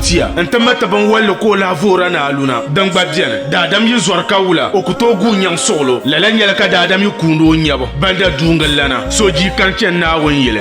tia n ti mati binwalli ka o lahi voora ni aluna din gba biɛni daadam yi zɔri ka wula o ku tooi guui nyaŋ suɣulo lala nyɛla ka daadam yi kuuni o nyɛbu banda duungillana so jii kan chɛni Naawuni yili